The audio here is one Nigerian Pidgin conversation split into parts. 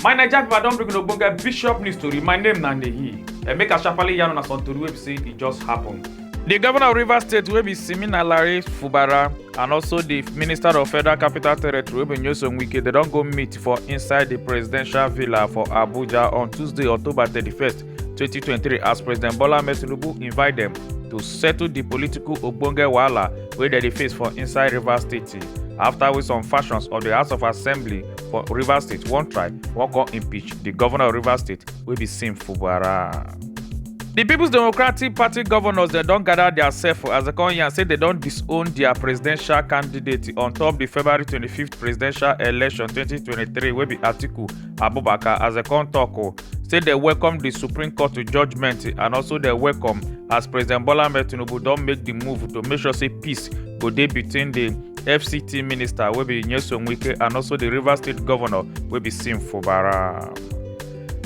my naija pipo i don bring una ogbonge bishop news tori my name na nehi and make i sharparly yarn una some tori wey be say e just happen. di govnor of rivers state wey be simina lare fubara and also di minister of federal capital territory wey be nyesom wike dem don go meet for inside di presidential villa for abuja on tuesday october thirty first. 2023 as president bola ahmed tinubu invite dem to settle di political ogbonge wahala wey dem dey face for inside rivers state afta wey some factions of di house of assembly for rivers state wan try wan come impeach di governor of rivers state wey be sim fubara. di peoples democratic party governors dem don gather dia sef as dem come yarn say dem don disown dia presidential candidate on top di february 25th presidential election 2023 wey be atiku abubakar as dem come tok say dem welcome di supreme court judgment and also dem welcome as president bola ahmed tinubu don make di move to make sure say peace go dey between di fct minister wey be nyesom wike and also di rivers state governor wey be sim fubara.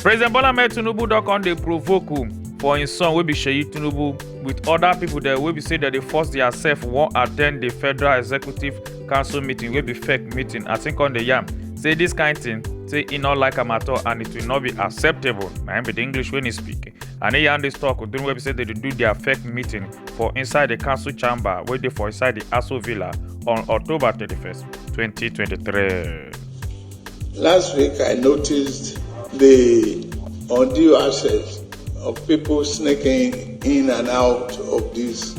president bola ahmed tinubu don come dey provoke um, for im son wey be seyi tinubu wit oda pipo dem wey be say dem dey force diasef wan attend di federal executive council meeting wey be fake meeting as im come dey yarn say dis kind thing say e no like am at all and it will not be acceptable na im be di english wey e speak and e yarn dis tok during wey be say dem dey do dia fake meeting for inside di council chamber wey dey for inside di aso villa on october 31st 2023. Last week, I noticed the undue access of people sneaking in and out of this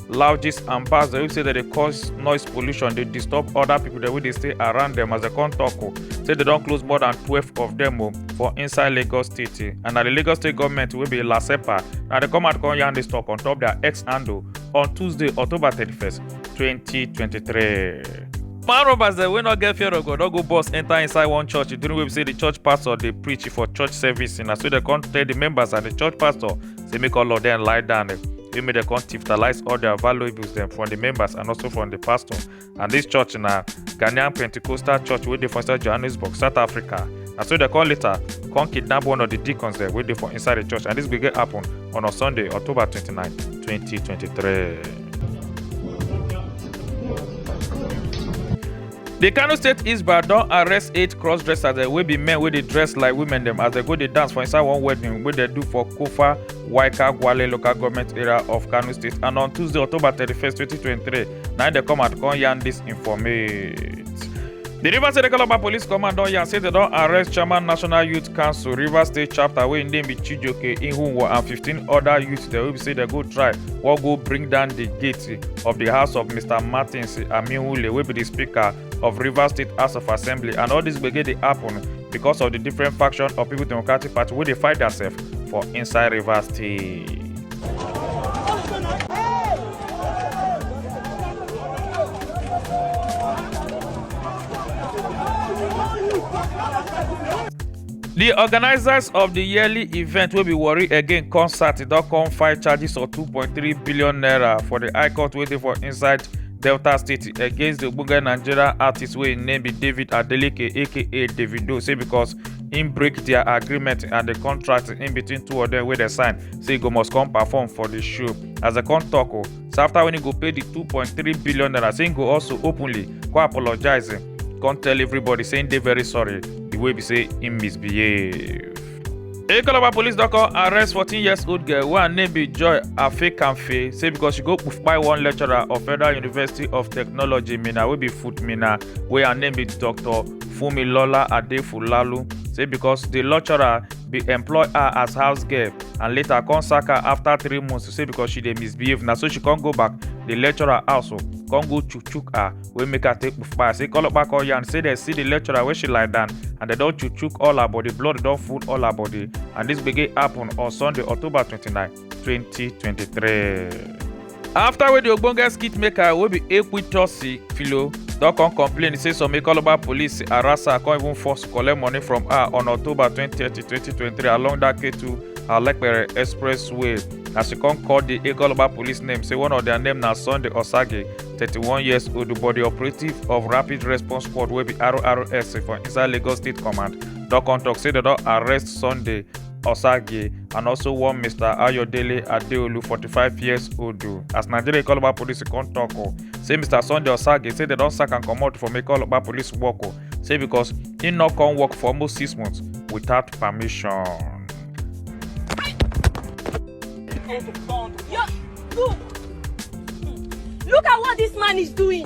loudges and bars wey say dem dey cause noise pollution dey disturb other people dem wey dey stay around dem as dem come talk o say dem don close more than twelve of dem o for inside lagos state eh. and na the lagos state government wey be lasepa na dem come out come yarn this talk on top their x handle on tuesday october thirty-first twenty twenty-three. man robbers dem wey no get fear of god don go burst enter inside one church during wey be say the church pastor dey preach for church service na so dem come tell the members and the church pastor say make all of them lie down. Wey make dem come tiftalize all their valuables dem from the members and also from the pastor. And this church na Ghanaian Pentecostal church wey dey for inside Johannesburg, South Africa. Na so dem come later come kidnap one of the deacons dem wey dey for inside the church and this gbege happen on a Sunday, October 29, 2023. di kano state isba don arrest eight cross dressers dem wey be men wey dey dress like women dem as dem go dey dance for inside one wedding wey dem do for kofa waika gwale local government area of kano state and on tuesday october 31 2023 na im dem come out come yarn dis informate. di rivers state calabar police command don yarn say dem don arrest chairman national youth council rivers state chapter wey im name be chijoke ihunwo and 15 oda youths dem wey be say dem go try wan go bring down di gate Assembly of di house of Mr Martins Amihule wey be di speaker of Rivers State House of Assembly and all dis gbege dey happen because of di different faction of People Democratic Party wey dey fight diasef for inside Rivers State. di organisers of di yearly event wey be warri again concert don come file charges of 2.3 billion naira for di high court wey dey for inside delta state against di ogbonge nigerian artist wey im name be david adeleke aka davido say becos im break dia agreement and di contract in between two of dem wey dem sign say e go must come perform for di show as dem come tok o so after when he go pay the 2.3 billion naira say he go also openly go apologize come tell everybody saying they very sorry the way we say he misbehave. Ekolaba police don come arrest 14 years old girl wey her name be Joy Afekanfe say because she go kpai one lecturer of Federal University of Technology Minna wey be Foot Minna wey her name be Dr. Fumilola Adefulalu say because the lecturer bin employ her as house girl and later come sack her afta three months to say because she dey misbehave na so she come go back dey lecture her house o come go chook chook her wey make her take kpupa say kolopa come yarn say dem see di lecturer wey she lie down and dem don chook chook all her body blood don full all her body and dis gbege happun on sunday october twenty nine. 2023. After wey di ogbonge skit maker wey be Ekwitosi Filo don come complain say some Ikoloba police harass her come even force collect money from her on October 20, 2023 along that Ketu Alepere Expressway as she come call di Ikoloba police name say one of their name na Sunday Osage 31 years old but di operative of Rapid Response Squad wey be RRS for inside Lagos State Command don come tok say dem don arrest Sunday Osage and also one Mr. Ayodele Adeolu, 45 years old. As Nigeria Ikoloba police come talk, oh, say Mr. Sunday Osage say they don sack am comot from Ikoloba police work, oh, say because he no come work for almost six months without permission. Yo, look. Look at what this man is doing.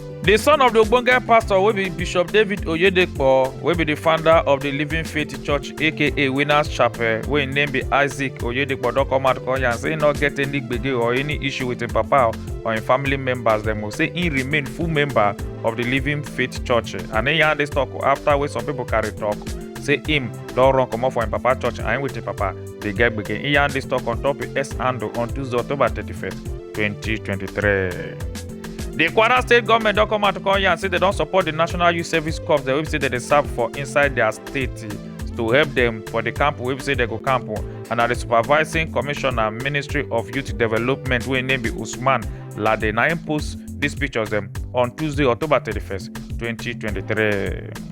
The son of the Ogbonge pastor will be Bishop David Oyedepo, will be the founder of the Living Faith Church aka Winners Chapel, wey im name be Isaac Oyedepo don come out come yarn say he no get any gbege or any issue with im papa or im family members dem o say he remain full member of the Living Faith Church and he yarn this talk after wey some people carry talk say him don run comot for im papa church and him with im papa dey get gbege. He yarn this talk on top his S handle on Tuesday October 31st, 2023. di kwara state goment don come out to come yarn say dem don support di national youth service corps dem wey be say dem dey serve for inside dia state to help dem for di camp wey be say dem go camp and na di supervising commissioner ministry of youth development wey im name be usman lade na im post dis pictures dem on tuesday october 31st 2023.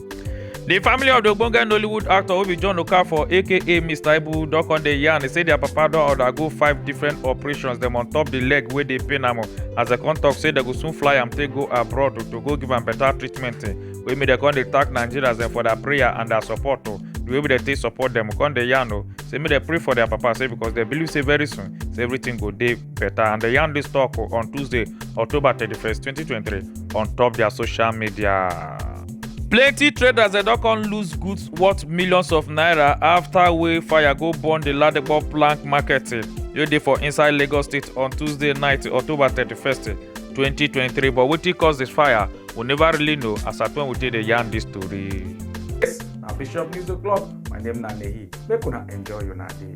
di family of di ogbonge nollywood actor wey be john okafor aka mr ibu don come dey yarn say dia papa don undergo five different operations dem on top di leg wey dey pain am as dem come tok say dem go soon fly am take go abroad to go give am better treatment wey make dem come dey thank nigerians dem for their prayer and their support o the way dem take support dem come dey yarn o say make dem pray for their papa say because dem believe say very soon say everything go dey better and they yarn this talk on Tuesday, October 31st, 2023 on top their social media. plenty traders dem don come lose goods worth millions of naira after wey fire go burn the ladipo plank market eh, wey dey for inside lagos state on tuesday night october 31st 2023 eh, but wetin cause this fire we never really know as at when we take dey yarn this story. yes na bishop news o'clock my name na nehi make una enjoy una day.